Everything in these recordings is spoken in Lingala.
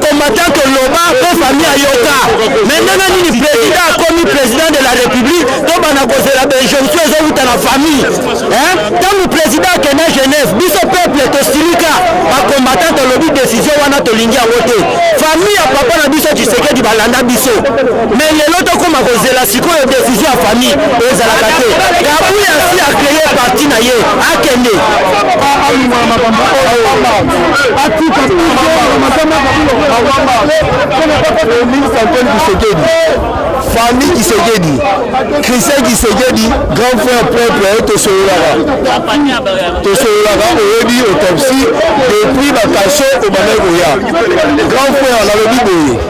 combattant oloba mpo fami ayoka me ndenge nini président akomi président de la république tobanda kozela bainjonction ezowuta na famille ntango président akenda genève biso peuple tosilika bacombattant tolobi décision wana tolingi yango te famille ya papa na biso tshisekedi balanda biso me lelo tokoma kozela sikoyo decision ya famille ezalaka te kabuya asi acreye parti na ye akende famille kisekedi christian kisekedi grand frère propre tosololaka tosololaka oyebi autopsie depuis bakasho obandaki koya grand frère nalobi boye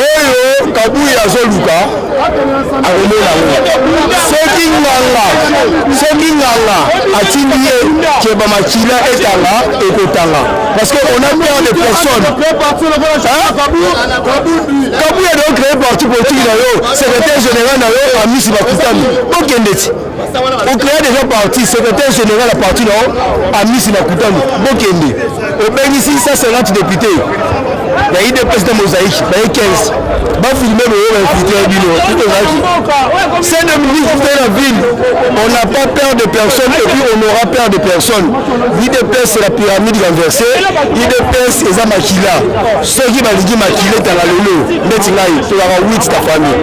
oyo kabuyi azoluka akomona yango soki nganga soki nganga atindi ye keba makila etanga ekotanga parce que on a peur de personne kabuyi adoo créer parti politique na yo secrétaire général na yo amisi bakutani bokende ti okrea deja parti secrétaire général ya parti nao amisi na kutani bokende obengisi 150 député ya idps na mosaïque baye 15 bafilme boyo bainfiltre ya bino tozalaki c'est de ministre de la ville on n'a pas peur de personne et puis on aura peur de personne idps c'est la pyramide renversée idps eza makila soki balingi makila etanga lelo ndeti ngai tozalaka 8 ta famille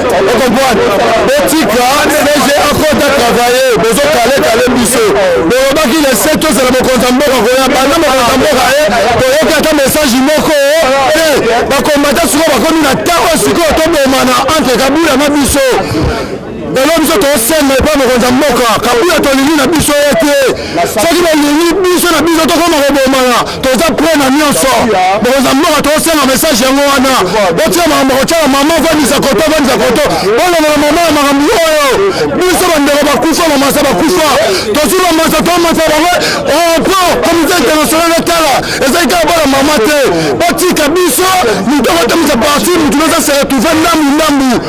okomprendre botika cg akota travaille bozokale kale biso bolobaki lese tozela mokonzi ya mboka koya banda mokonzi ya mboka ye toyoki ata message moko te bakombata sikoyo bakomi na ntango sikoyo tobomana entre kabila na biso lelo biso tosenga epa mokonzi ya mboka kabila tolingi na biso ye te soki balingi biso na biso tokoma kobomana toza pre na nyonso bokonzi ya mboka tosenga message yango wana botika makambo kotyaka mama vandisa koto vandisa koto bolongola mama ya makambo oyo biso bandeko bakufa bamasa bakufa tozwi bamasa tomasa bango opo oh, comité international etala ezali kaka bana mama te botika biso moto akotamisa parti motu noza se retrouve ndambu ndambu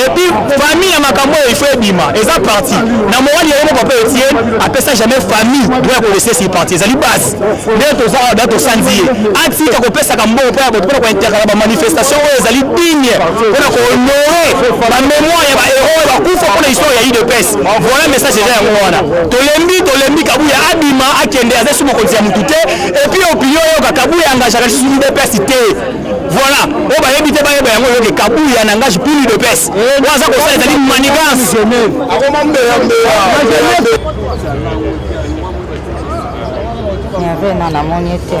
et puis famille ya makambo oyo ifo ebima eza parti na morali yango moko mpe etie apesa jamais famille droit ya kolesesi parti ezali base nde toza awa da tosanzi ye atika kopesaka mbongo mpo ya bato mpona kointerkala bamanifestation oyo ezali digne mpona kohonore bamemoire ya bahéro oyo bakufa mpona histoire ya udps voilà message eza yango wana tolembi tolembi kabuya abima akende aza esi mokonzi ya motu te epuis opinion oyoka kabuya engagaka lisusu udps te voilà oyo bayebi te bayeba yango yoke kabuya na ngaji pili de pese oyo aza kosala ezali manigance yavena namoni ete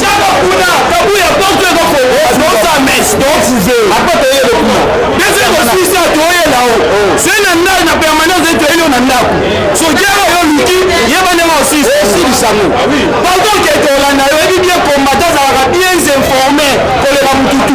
Tiaka kuna kabuya porte eko fongo azosa mes donc size apa toye ko kuna pese ko sisa toye la o se na ndako na permanence eto elio na ndako so jero yo luki ye bande ma aussi aussi bisango pardon ke to landa yo ebi bien combattant zalaka bien informé koleka mututu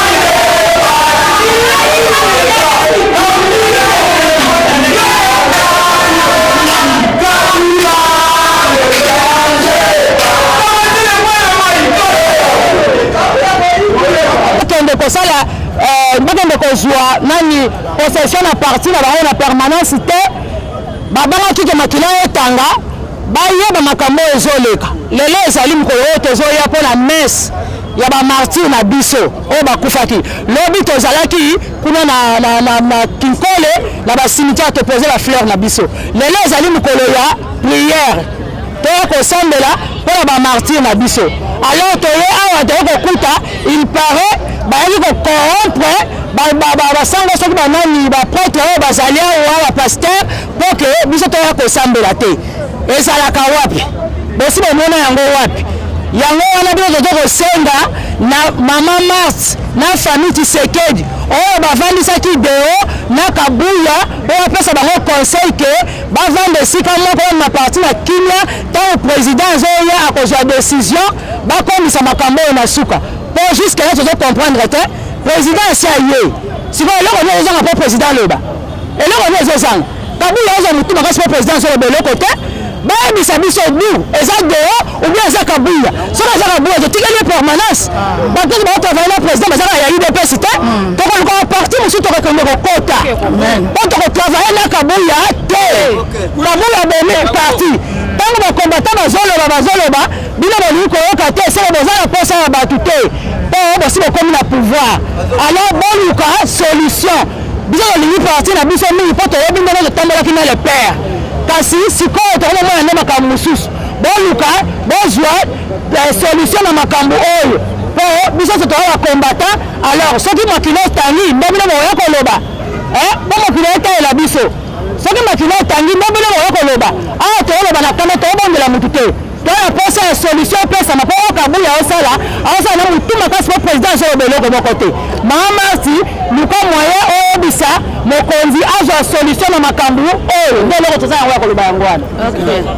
kozwa nani possession na parti na bango na permanence te babangaki ke makila etanga bayeba makambo oyo ezoleka lelo ezali mokolo oyo tozoya mpo na messe ya ba martyr na biso oyo bakufaki lobi tozalaki kuna na, na, na, na kinkole na basimitiare topose ba fleur na biso lelo ezali mokolo ya priere toya kosambela mpo na bamartyr na biso alors toye awa toye kokuta il parait bayaki kocorrompre basanga soki banani bapretre oyo bazali awa bapaster Mpo ke biso toya kosambela te ezalaka wapi? Bosi bomona yango wapi? yango wana bino tozo kosenga na mama mars na famille tisekedi oyo oh, bavandisaki deo na kabuya oyo apesa bango conseil ke bavanda esika moko na parti na kimia ntango président azoya akozwa décision bakomisa makambo oyo na suka mpo jusque là tozo comprendre te président asi aye sikoyo eloko nini ozanga mpo président aloba Eloko nini ezozanga? Kabila azwa motu makasi mpo president azoloba eloko te. Bayebisa biso du eza deo ou bien eza Kabila. Soki aza Kabila totikeli ye permanence. Bato oyo baotravaille na president bazalaka ya udps te. Hmm. Tokolukaka parti mosusu tokokende kokota mpo tokotravaille na Kabila te. Kabila abomi parti ntango bakombata bazoloba bazoloba bino bolingi koyoka te soko boza na mposa ya bato te mpo bosi bokomi na pouvoir alors boluka solution biso tolingi parti na biso mingi mpo toyebi ndenge totambolaki na le père kasi sikoyo tokomomona nde makambo mosusu boluka bozwa eh, solution na makambo oyo mpo biso nyonso toza bakombata alors soki makilo etangi nde bino bokoya koloba eh, mpo mokili etalela biso soki makilo etangi nde bino bokoya koloba awa ah, tooloba na kanda toobondela motu te toya posa ya solution opesama mpo oyo kabuya osala aosala na motu makasi mpo président azoloba eloko moko te maa marti luka moyen oyebisa mokonzi azwa solution na makambo oyo nde eloko toza yango ya koloba yango wana